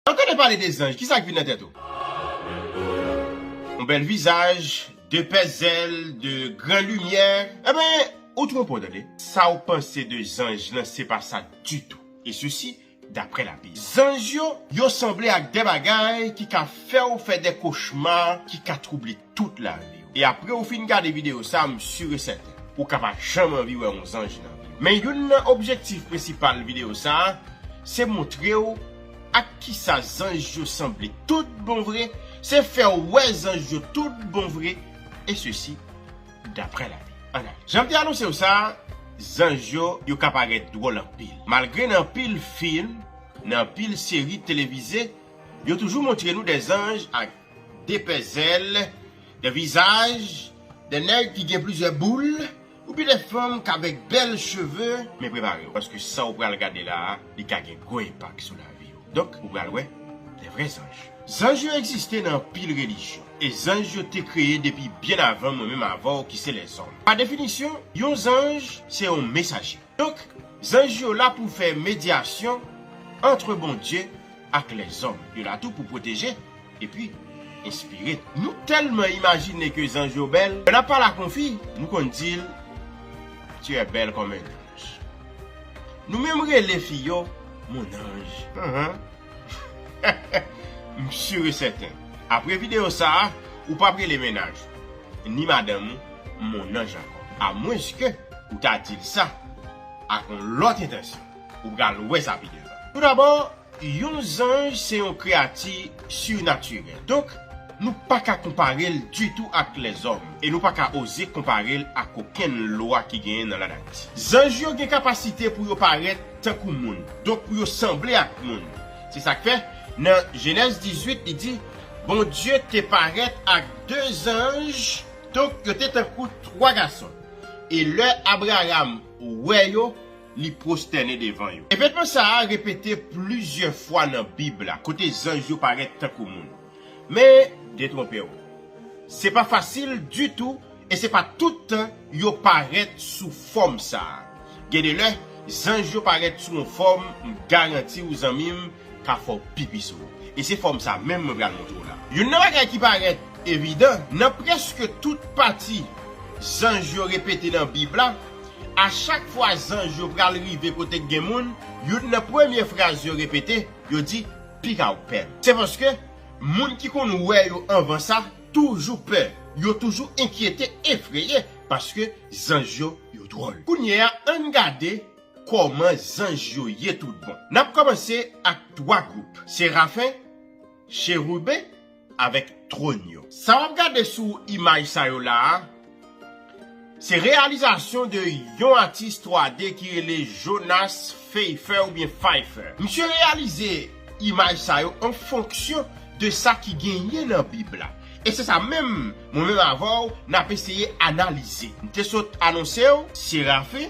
Lè w tande pale de zanj, kisa k vin nan tèt ou? Yon bèl vizaj, de pè zèl, de gran limyè. Enben, ou twonpe w tande. Sa w panse de zanj lan se pa sa ditou. E sesi, daprè la Bib. Zanj yo, yo sanble ak de bagay ki ka fè w fè de kochma ki ka twouble. tout lavi w. E apre ou fin gade videyo sa m sur e sèten ou ka pa janm anvi wè yon zanj nan vi w. Men youn nan objektif prensipal videyo sa se montre w ak kisa zanj yo sanble tout bon vre, se fè w wè zanj yo tout bon vre e sesi daprè la Bib. An ale. Jan m te anonse w sa, zanj yo yo ka parèt dwòl anpil. Malgre nan anpil film, nan anpil seri televize, yo toujou montre nou de zanj ak. 2 pè zèl, 2 vizaj, 2 nèg ki gen plizyè boul, oubyen 2 fanm k avèk bèl cheve, men prepare w paske sa w pral gade la a li ka gen gwo enpak sou lavi w donk ou pral wè 2 vrè zanj. Zanj yo egziste nan anpil relijyon e zanj yo te kreye depi byen avan mwen menm avè w ki se lèzòm. Pa definisyon, yon zanj se yon mesaje. Donk, zanj yo la pou fè medyasyon antre Bondye ak lèzòm yo la tou pou pwoteje epi enspire. Nou tèlman imajine ke zanj yo bèl, lè n ap pale ak yon fi, nou konn di l Tu es belle comme un ange. Nou menm rele fi yo Mon ange. M sur e sèten, apre videyo sa a, ou p ap rele mennaj ou, ni madanm ou Mon ange ankò, amwenske ou ta di l sa ak yon lòt entansyon. Ou pral wè sa pi devan. Toudabò, yon zanj se yon kreyati surnaturel. Donk, nou pa ka konpare l ditou ak lèzòm e nou pa ka oze konpare l ak okenn lwa ki genyen nan lanati. Zanj yo gen kapasite pou yo parèt tankou moun, donk pou yo sanble ak moun. Se sa k fè, nan Jenèz 18, li di, Bondye te parèt ak de zanj, donk yo te tankou twa gason, e lè Abraram wè yo, li pwostène devan yo. Evènman sa a repete plizyè fwa nan Bib la, kote zanj yo parèt tankou moun. Men, detwonpe w. Se pa fasil ditou e se pa tout tan yo parèt sou fòm sa a. Gen de lè, zanj yo parèt sou yon fòm, m garanti w zanmi m, ka fè w pipi sou ou. E se fòm sa menm mwen pral montre w la. Youn nan bagay ki parèt evidan, nan prèske tout pati zanj yo repete nan Bib la, a chak fwa zanj yo pral rive kote k gen moun, youn nan premye fraz yo repete, yo di, Pika w pè. Se paske, moun ki konn wè yo anvan sa, toujou pè. Yo toujou enkyete, efreye, paske zanj yo, yo dwòl. Kounyeya, ann gade Kòman zanj yo ye tout bon? N ap kòmanse ak twa gwoup, serafen, cheriben avèk twòn yo. Sa w ap gade sou imaj sa yo la a, se reyalizasyon de yon atis 3D ki rele Jonas Feifer oubyen Pfeiffer. Misye reyalize imaj sa yo an fonksyon de sa ki genyen nan Bib la. E se sa menm mwen menm avè w n ap eseye analize. M te sot anonse w serafen.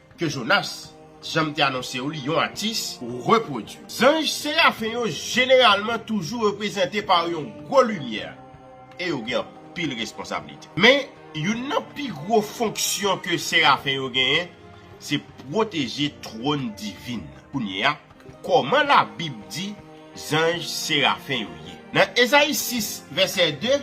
ke Jonas, jan m te anonse w li, yon atis, repwodui. Zanj serafen yo jeneralman toujou reprezante pa yon gwo limyè e yo gen anpil responsablite. Men, youn nan pi gwo fonksyon ke serafen yo genyen se pwoteje twòn divin nan. Kounyeya, kòman Labib di zanj serafen yo ye? Nan Ezayi 6, vèsè 2,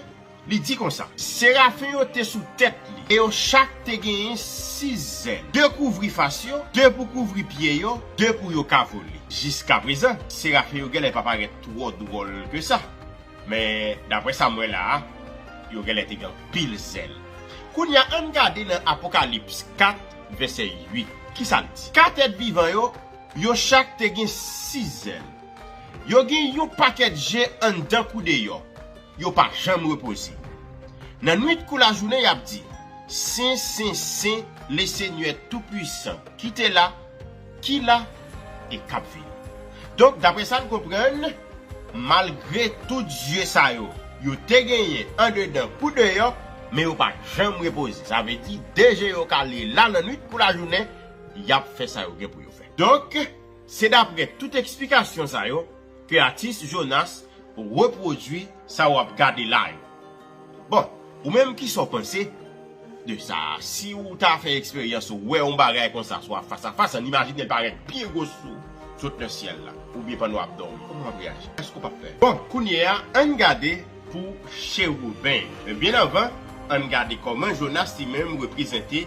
Li di konsa. Serafen yo te sou tèt li e yo chak te genyen sis zèl, de kouvri fas yo, de pou kouvri pye yo, de pou yo ka vole. Jiskaprezan, serafen yo genlè pa parèt twò dwòl ke sa. Men, dapre sa m wè la a, yo genlè te gen anpil zèl. Kounye a, ann gade nan Apokalips 4, vèsè 8. Ki sa l di? Kat èt vivan yo, yo chak te gen sis zèl. Yo gen yon pakèt je anndan kou deyò. Yo pa janm repoze. Nan nwit kou lajounen y ap di, Sen, sen, sen, Lesenyè Toupuisan ki te la, ki la e k ap vini. Donk, dapre sa n konprann, malgre tout zye sa yo, yo te genyen andedan kou deyò, men yo pa janm repoze. Sa vle di, de je yo kale la nan nwit kou lajounen, y ap fè sa yo gen pou yo fè. Donk, se dapre tout eksplikasyon sa yo, Ke atis Jonas repwodwi sa wap gade la yo. Bon ou menm kisa w panse de sa a? Si ou ta fè eksperyans ou wè yon bagay konsa swa fas a fas an imajine l parèt byen gwo sou ou sot nan syèl la oubyen pandan wap dòmi kòman wap reyaji? Èske ou pap pè? Bon kounye a ann gade pou Chewouben. Men byen anvan ann gade kòman Jonas li menm reprezante.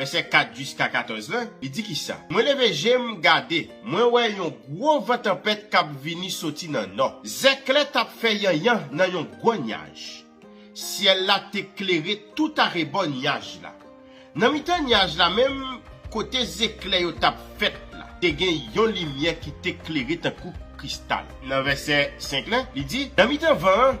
Vèsè 4 jiska 14 la, li di ki sa? Mwen leve je m, gade, mwen wè yon gwo van tanpèt k ap vini soti nan nò. Zèklè t ap fè yanyan nan yon gwo nyaj. Syèl la te klere toutarebò nyaj la. Nan mitan nyaj la menm, kote zeklè yo t ap fèt la, te gen yon limyè ki te klere tankou kristal. Nan vèsè 5 la, li di, Nan mitan van an,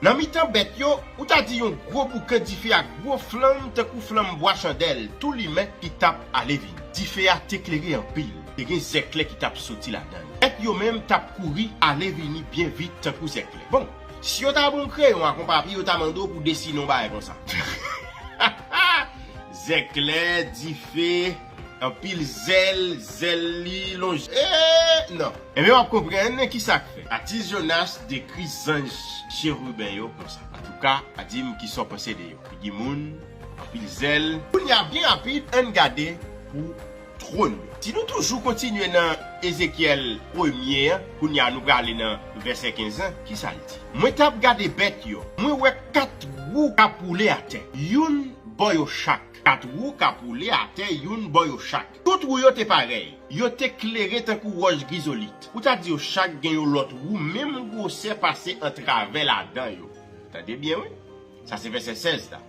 Nan mitan bèt yo, ou ta di yon gwo boukan dife ak gwo flanm tankou flanm bwa chandèl tou limen ki t ap ale vini. Dife a te klere anpil, te gen zèklè ki t ap soti ladan l. Bèt yo menm t ap kouri ale vini byen vit tankou zèklè. Bon, si yo ta ba w yon kreyon ak yon papye, yo ta mande w pou w desine yon bagay konsa. Ha ha ha! Zèklè, dife. Anpil zèl, zèl li lonje eeh nan. Ebyen wap konprann kisak fè atis Jonas dekri zanj chérubin yo konsa. Antouka dim kisa w panse de yo. Figi moun, anpil zèl. Kounya byen rapid ann gade pou twòn yo. Si nou toujou kontinye nan Ezekyèl premye an, kounya nou prale nan vèsè 15 lan, kisa l di? Mwen tap gade bèt yo, mwen wè 4 wou kap woule atè, youn bò yo chak. Kat wou k ap woule atè youn bò yo chak. Tout wou yo te parèy. Yo te klere tankou wòch grizolit. Ou ta di yo chak gen yon lòt wou menm gwosè pase antravè ladan yo. Tande byen wi. Sa se vèsè 16 la.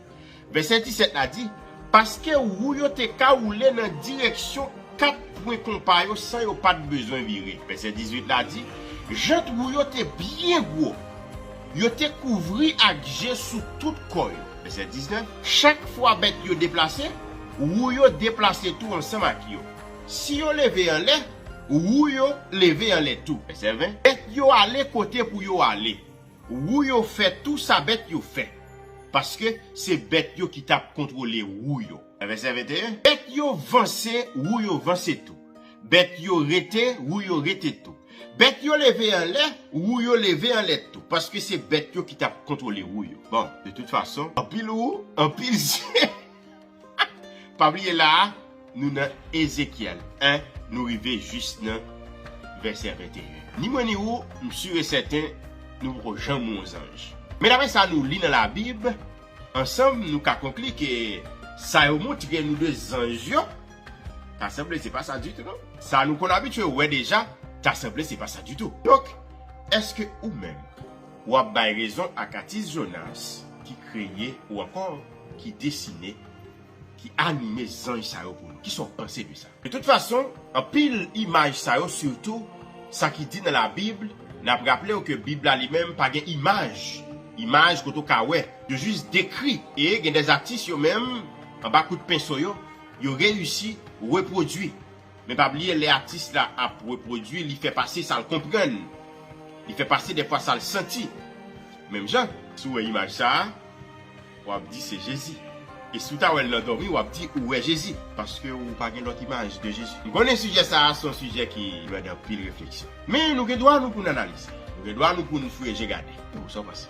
Vèsè 17 la di, Paske wou yo te ka woule nan direksyon kat pwen konpa yo san yo pa t bezwen vire. Vèsè 18 la di, Jant wou yo te byen gwo. Yo te kouvri ak je sou tout kò yo. Vèsè 19, Chak fwa bèt yo deplase, wou yo deplase tou ansanm ak yo. Si yo leve anlè, wou yo leve anlè tou. Vèsè 20, Bèt yo ale kote pou yo ale, wou yo fè tou sa bèt yo fè, paske se bèt yo ki t ap kontwole wou yo. Vèsè 21, Bèt yo vanse, wou yo vanse tou. Bèt yo rete, wou yo rete tou. Bèt yo leve anlè, wou yo leve anlè tou. Paske se bèt yo ki t ap kontwole wou yo. Bon, de tout fason, anpil wou, anpil zye. Pa bliye la a, nou nan Ezekyèl 1, nou rive jis nan vèsè 21. Ni mwen ni wou, m si e sèten, nou poko janm won zanj. Men dapre sa nou li nan Labib, ansanm nou ka konkli ke sa yo montre nou de zanj yo, Ta sanble se pa sa ditou non. Sa nou konn abitye wè deja, ta sanble se pa sa ditou. Donk, èske ou menm, w ap bay rezon ak atis Jonas ki kreye ou ankò ki desine, ki anime zanj sa yo pou nou? Kisa w panse de sa? De tout fason, anpil imaj sa yo sitou sa ki di nan Labib, n ap raple w ke Bib la li menm pa gen imaj, imaj kote ou ka wè, yo jis dekri e gen dèzatis yo menm, anba kout penso yo, Yo reyisi repwodui. Men pa bliye lè atis la ap repwodui li fè pase sa l konprann. Li fè pase defwa sa l santi. Menm jan, si w wè imaj sa a, w ap di se Jezi. E si w ta wè l nan dòmi w ap di ou wè Jezi. Paske ou pa gen lòt imaj de Jezi. M konnen sijè sa a se yon sijè ki mande anpil refleksyon. Men nou gen dwa nou pou n analize. Nou gen dwa nou pou n fouye je gade. Sa w panse?